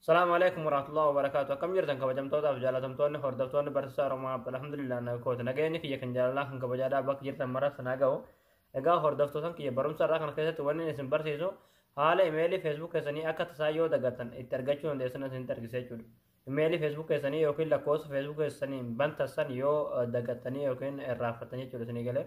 Salaamu alaikum warahmatullahi wabarakatuh. Akkam jirtan kabajamtootaaf jaalatamtoonni hordoftoonni barsiisaa Oromaa alhamdulillah na kooti. Nageenyi kiyya kan jaalalaa kan kabajaadhaa bakka jirtan maraaf sanaa ga'u. Egaa hordoftootan kiyya barumsa irraa kana keessatti wanni isin barsiisu haala imeelii feesbuuk keessanii akka tasaa yoo dagattan itti argachuu dandeessan isinitti argisiisa jechuudha. Imeelii feesbuuk keessanii yookiin lakkoofsa feesbuuk keessanii bantassan yoo dagattanii yookiin irraanfattan jechuudha isinii galee.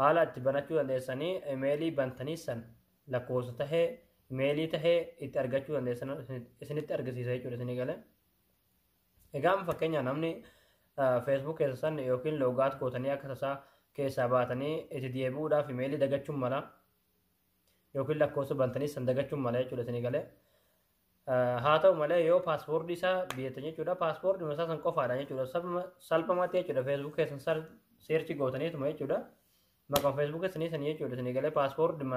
haala itti banachuu dandeessanii imeelii bantanii san lakkoofsa tahee imeelii tahee itti argachuu dandeessan isinitti argisiisa jechuudha isinii galee. Egaa amma fakkeenyaa namni feesbuuk keessa san yookiin loogaat gootanii akka tasaa keessaa baatanii itti deebi'uudhaaf imeelii dagachuun mala yookiin lakkoofsa bantanii san dagachuun mala jechuudha isinii galee. Haa ta'u malee yoo paaspoortii isaa biyyattan jechuudha paaspoortii isaa san qofaadha jechuudha salphamatti jechuudha feesbuuk keessan seerchi gootaniituma jechuudha maqaan feesbuuk keessanii sanii jechuudha sanii galee paaspoortii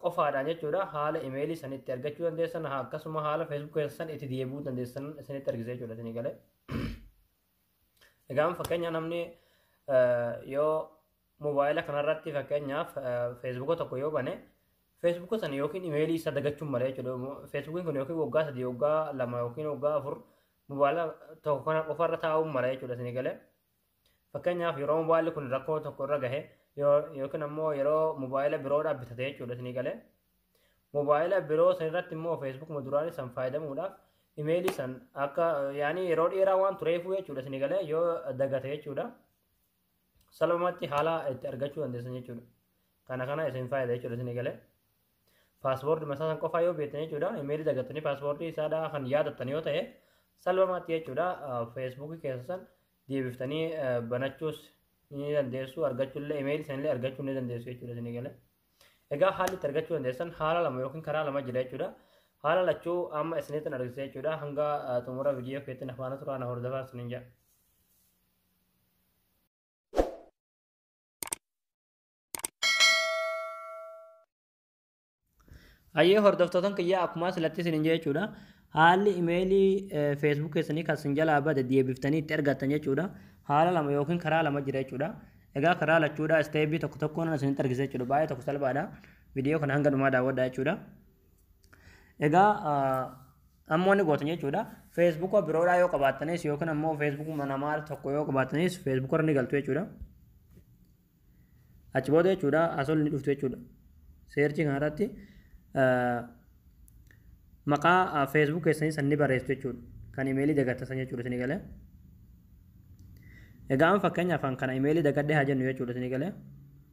qofaadhaan jechuudha haala imeelii san itti argachuu dandeessan akkasuma haala feesbuuk keessan itti deebi'uu dandeessan isinitti argisiisa jechuudha sanii galee. Egaan fakkeenya namni yoo Mobaayila kanarratti fakkeenyaaf feesbuuka tokko yoo bane feesbuuka sana yookiin imeelii isaa dagachuun malee jechuudha. Feesbuukiin kun yookiin waggaa sadii waggaa lama yookiin waggaa afur mobaayila tokko kana qofarra taa'uun malee jechuudha isin galee. Fakkeenyaaf yeroo mobaayilli kun rakkoo tokko irra gahe yookiin ammoo yeroo mobaayila biroodhaa bitate jechuudha isin galee. Mobaayila biroo sanirratti immoo feesbuukuma duraanii san fayyadamuudhaaf imeelii san akka yaani yeroo dheeraa waan tureefuu jechuudha isin galee yoo dagate jechuudha. salphumatti haala itti argachuu dandeessan jechuudha. Kana kana isin fayyada jechuudha isin eegalee. Paaspoortii masaa san qofaa yoo beektan jechuudha. Imeelii dagattanii paaspoortii isaadhaa kan yaadattan yoo ta'e salphumatti jechuudha. Feesbuukii keessa san deebiftanii banachuus ni dandeessu argachuullee imeelii sanillee argachuu ni dandeessu jechuudha isin eegalee. Egaa haalli itti argachuu dandeessan haala lama yookiin karaa lama jira jechuudha. Haala lachuu amma isinitti argisiisa jechuudha. Hanga xumura viidiyoo keetti na faana turaa na hordofaa isiniin jedha. Hayyee hordoftoottan kiyyaa akkuma silatti isin hin jechuudha. Haalli imeelii feesbuuk keessanii kan isin jalaa bade deebiftanii itti argattan jechuudha. Haala lama yookiin karaa lama jira jechuudha. Egaa karaa lachuudha isteebii tokko tokkoon isinitti argisiisa jechuudha. Baay'ee tokko salphaadha. Viidiyoo kana hanga dhumaa daawwadhaa jechuudha. Egaa amma wanni gootan jechuudha feesbuuka biroodhaa yoo qabaattanis yookiin ammoo feesbuukuma namaa tokko yoo qabaattanis feesbuuka irra ni galtu jechuudha. Achi booda jechuudha asol ni dhuftu jechuudha. Seerchii kanarratti maqaa feesbuuk keessanii san ni barreessu jechuudha. Kan imeelii dagattasan jechuudha isin galee. Egaa amma fakkeenyaaf kan imeelii dagadhee haa jennu jechuudha isin galee.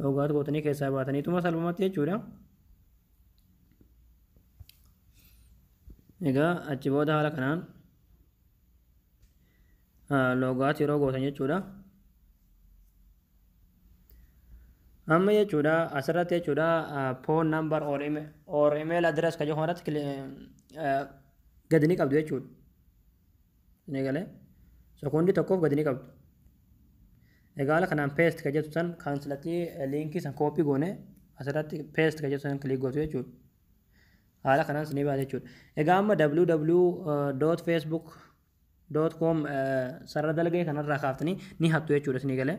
Dhoogaatu gootanii keessaa baataniituma salphumatti jechuudha. Egaa achi booda haala kanaan loogaatu yeroo gootan jechuudha. Amma jechuudha asirratti jechuudha phone number or email, or email address kan jedhu kanarratti gadi ni qabdu jechuudha. Ni galee. Sekoondii tokkoof gadi ni qabdu. Egaa haala kanaan paste ka jettu san kan silatti liinkii san koopii goone asirratti paste ka jettu san kiliik gootu jechuudha. Haala kanaan sinii baate jechuudha. Egaa amma www.facebook.com sarara dalgee kanarraa kaaftanii ni hattu jechuudha sinii galee.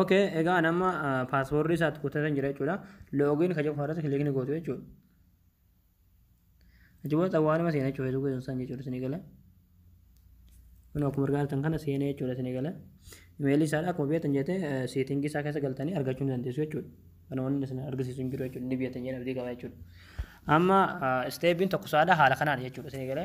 Okay, egaa an amma paaswoordii isaatti kuttatan jira jechuudha. Loogiin ka jedhu irratti kilikni gootu jechuudha. Achi booda xawwaaluma seenaa jechuudha feesbuukii sun san jechuudha isin eegala. Kun akkuma argaa jirtan kana seenee jechuudha isin eegala. Imeelii isaadha akkuma beektan jettee seetingii isaa keessa galtanii argachuu ni dandeessu jechuudha. Kana wanni isin argisiisu hin jiru jechuudha. Ni beektan jedhee abdii qaba jechuudha. Amma isteebiin tokko saadha haala kanaan jechuudha isin eegala.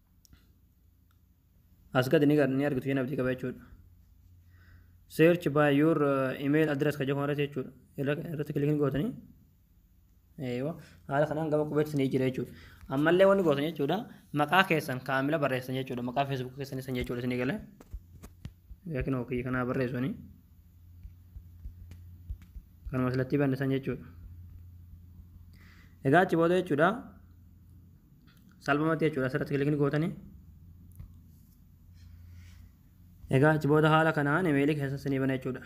as gadi ni ni argitu jeen abdii qaba jechuudha search by your uh, email address ka jechuun irratti jechuudha irratti kilikiin gootanii eewa haala kanaan gama qubeetti ni jira jechuudha ammallee wanni gootan jechuudha maqaa keessan kaamila barreessan jechuudha maqaa feesbuuk keessan isan jechuudha isinii galee yookiin ofii kanaa barreessanii kanuma silatti bannisan jechuudha egaa achi booda jechuudha salphumatti jechuudha asirratti kilikni gootanii egaa achi booda haala kanaan imeelii keessan sinii bana jechuudha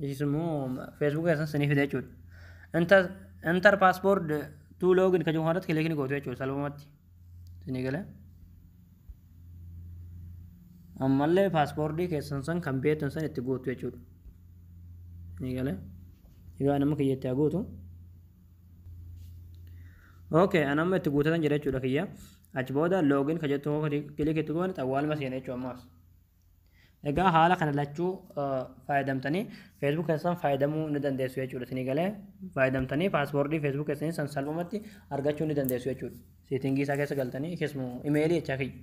ishis immoo feesbuuk keessan sinii fida jechuudha inter inter paaspoord tuu loogin kan jedhamu irratti kilikni gootu jechuudha salphumatti sinii galee ammallee paaspoordii keessan san kan beektan san itti guutu jechuudha ni galee egaa nama kiyya itti haa guutu Okay, an amma itti guutatan jira jechuudha kiyya. Achi booda login ka jettu hoo kilik itti goone xawwaaluma seena jechuudha ammaas. Egaa haala kana lachuu fayyadamtanii Facebook keessan fayyadamuu ni dandeessu jechuudha. Isinii galee fayyadamtanii paaswoordii Facebook keessanii san salphumatti argachuu ni dandeessu jechuudha. Seetingii isaa keessa galtanii keessumaa imeelii jechaa kiyya.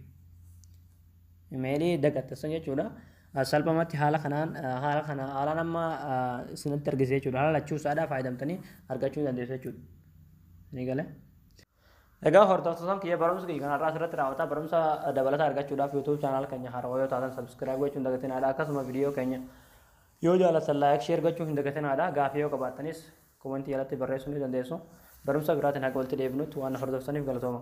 Imeelii dagattessan jechuudha. Salphamatti haala kanaan haala kana haalaan amma isinitti argisiisa jechuudha. Haala lachuu isaadhaa fayyadamtanii argachuu ni dandeessu jechuudha. Ni gale. Egaa hordoftoota kiyya barumsa kiyya kanarraa asirratti raawwataa barumsa dabalataa argachuudhaaf YouTube chaanaal keenya haarawaa yoo taatan subscribe gochuu hin dagatinaadha. Akkasuma viidiyoo keenya yoo jaalatan laayik sheer gochuu hin dagatinaadha. Gaafii yoo qabaattanis komentii jalatti barreessuu ni dandeessu. Barumsa biraatiin haga walitti deebinutti waan hordoftaniif galatooma.